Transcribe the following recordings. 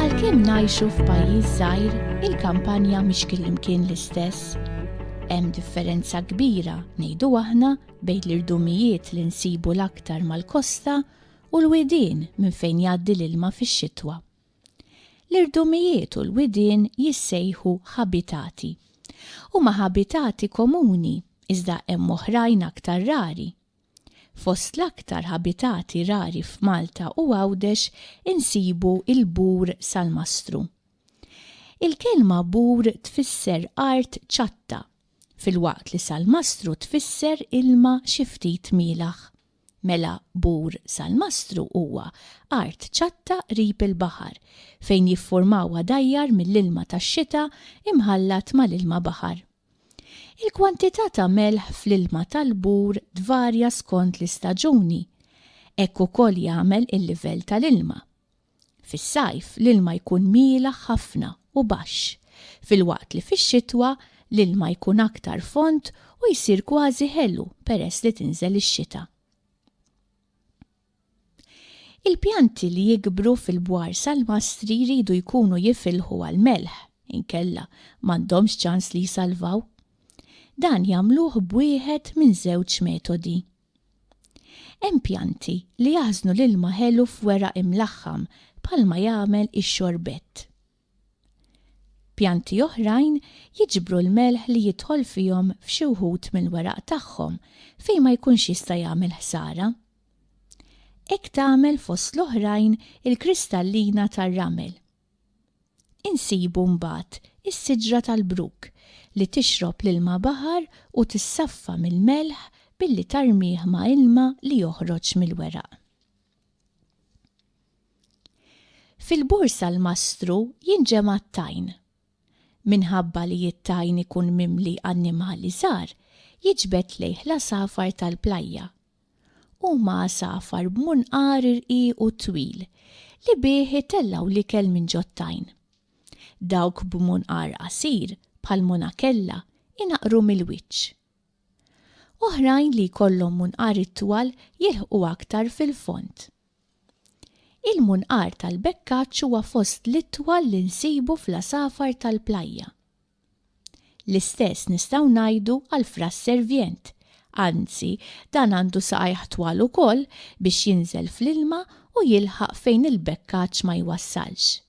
Għalkemm ngħixu f'pajjiż żgħir, il-kampanja mhix kullimkien l-istess. Hemm differenza kbira ngħidu aħna bejn l-irdumijiet li nsibu l-aktar mal-kosta u l-widien minn fejn jgħaddi l-ilma fix-xitwa. L-irdumijiet u l-widien jissejħu ħabitati. Huma ħabitati komuni, iżda hemm oħrajn aktar rari. Fost l-aktar ħabitati rari f'Malta u Għawdex insibu l-bur salmastru. Il-kelma bur tfisser art ċatta, filwaqt li salmastru tfisser ilma xi ftit mielaħ. Mela Bur Salmastru huwa art ċatta qrib il-baħar fejn jiffurmaw għadajjar mill-ilma tax-xita imħallat mal-ilma baħar. Il-kwantità ta' melħ fl-ilma tal-Bur tvarja skont l-istaġuni. Hekk ukoll jagħmel il-livell tal-ilma. Fis-sajf l-ilma jkun mielaħ ħafna u baxx, filwaqt li fix-xitwa l-ilma jkun aktar fond u jsir kważi ħelu peress li tinżel ix-xita. Il-pjanti li jikbru fil-bwar salmastri jridu jkunu jifilħu għall-melħ, inkella m'għandhomx ċans li jsalvaw. Dan jagħmluh b'wieħed minn żewġ metodi. Hemm pjanti li jaħżnu l-ilma ħelu f'weraq imlaħħam bħalma jagħmel ix-xorbett. Pjanti oħrajn jiġbru l-melħ li jidħol fihom f'xi wħud mill-weraq tagħhom fejn ma jkunx jista' jagħmel ħsara. Hekk tagħmel fost l-oħrajn il-kristallina tar-ramel. Insibu mbagħad is-siġra tal-bruk li tixrob l-ilma baħar u tissaffa mill-melħ billi tarmih ma' ilma li joħroġ mill-weraq. Fil-borsa l-mastru jinġema' t-tajn. Minħabba li t-tajn ikun mimli annimali żgħar, jiġbed lejh l-għasafar tal-plajja Huma għasafar b'munqar irqiq u twil li bih itellgħu l-ikel minn ġot-tajn. Dawk b'munqar qasir, bħal monakella, inaqqru mill-wiċċ. Oħrajn li jkollhom munqar itwal jilħqu aktar fil-fond. Il-munqar tal-bekkaċċ huwa fost l-itwal li nsibu fl-għasafar tal-plajja. L-istess nistgħu ngħidu għall-fraż servient. Anzi, dan għandu saqajh twal ukoll biex jinżel fl-ilma u jilħaq fejn il-bekkaċ ma jwassalx.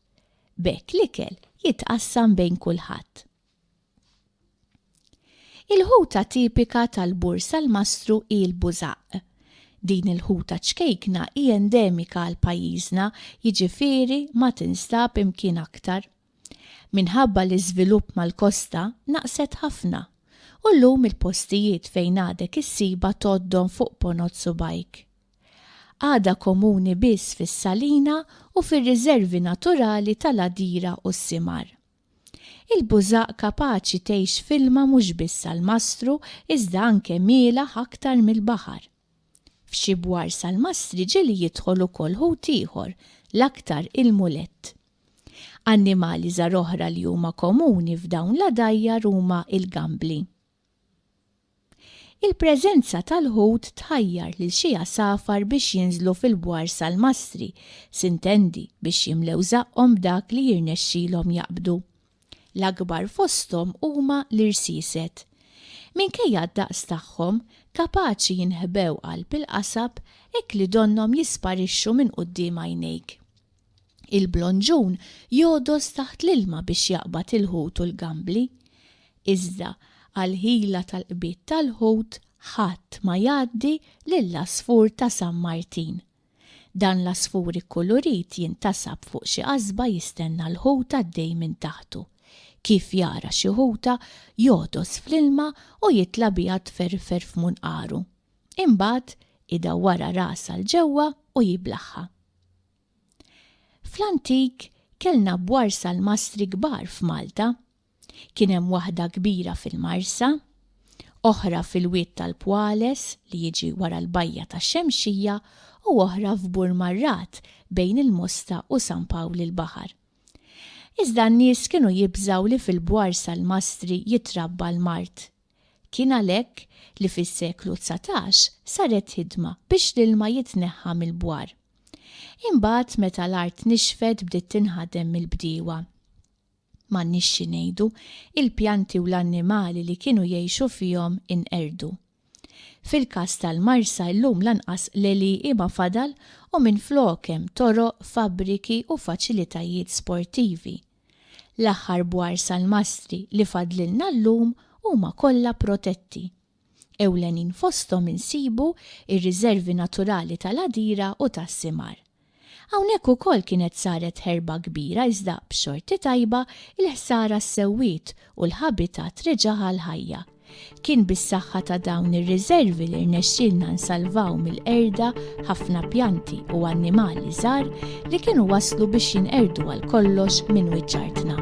B'hekk l-ikel jitqassam bejn kulħadd. Il-ħuta tipika tal-Bur Salmastru hi l-bużaqq. Din il-ħuta ċkejkna hi endemika għal pajjiżna, jiġifieri ma tinstab imkien aktar. Minħabba l-iżvilupp mal-kosta naqset ħafna u llum il-postijiet fejn għadek issibha tgħoddhom fuq ponot subgħajk. Għadha komuni biss fis-salina u fir-riżervi naturali tal-għadira u s-simar. Il-bużaq kapaċi tgħix f'ilma mhux biss salmastru iżda anke mielgħa aktar mill-baħar. F'xi bwar salmastri ġieli jidħol ukoll ħut ieħor, l-aktar il-mulett. Annimali żgħar oħra li huma komuni f'dawn l-għadajjar huma l-gambli. Il-preżenza tal-ħut tħajjar lil xi għasafar biex jinżlu fil-bwar salmastri, sintendi biex jimlew żaqqhom b'dak li jirnexxilhom jaqbdu. L-akbar fosthom huma l-irsiset. Minkejja d-daqs tagħhom, kapaċi jinħbew qalb il-qasab hekk li donnhom jisparixxu minn quddiem għajnejk. Il-blonġun jogħdos taħt l-ilma biex jaqbad il-ħut u l-gambli. Iżda għall-ħila tal-qbid tal-ħut ħadd ma jgħaddi lill-għasfur ta' San Martin. Dan l-għasfur ikkulurit jintasab fuq xi qasba jistenna l-ħut għaddej minn taħtu. Kif jara xi ħuta, jogħdos fl-ilma u jitla' biha tferfer f'munqaru. Imbagħad, idawwarha rasha 'l ġewwa u jiblaħħha. Fl-antik kellna bwar salmastri kbar f'Malta. Kien hemm waħda kbira fil-Marsa, oħra fil-Wied tal-Pwales li jiġi wara l-Bajja tax-Xemxija u oħra f'Bur Marrat bejn il-Mosta u San Pawl il-Baħar. Iżda n-nies kienu jibżgħu li fil-bwar salmastri jitrabba l-mard Kien għalhekk li fis-seklu dsatax saret ħidma biex l-ilma jitneħħa mill-bwar. Imbagħad meta l-art nixfet bdiet tinħadem mill-bdiewa. M'għandniex xi ngħidu, il-pjanti u l-annimali li kienu jgħixu fihom inqerdu. Fil-każ tal-Marsa llum lanqas l-għelieqi ma fadal u minflok hemm toroq, fabbriki u faċilitajiet sportivi. L-aħħar bwar salmastri li fadlilna llum huma kollha protetti. Ewlenin fosthom insibu r-riżervi naturali tal-Għadira u tas-Simar. Hawnhekk ukoll kienet saret ħerba kbira iżda b'xorti tajba l-ħsara ssewwiet u l-ħabitat reġa' għall-ħajja. Kien bis-saħħa ta' dawn ir-riżervi li rnexxielna nsalvaw mill-qerda ħafna pjanti u annimali żgħar li kienu waslu biex jinqerdu għal kollox minn wiċċ artna.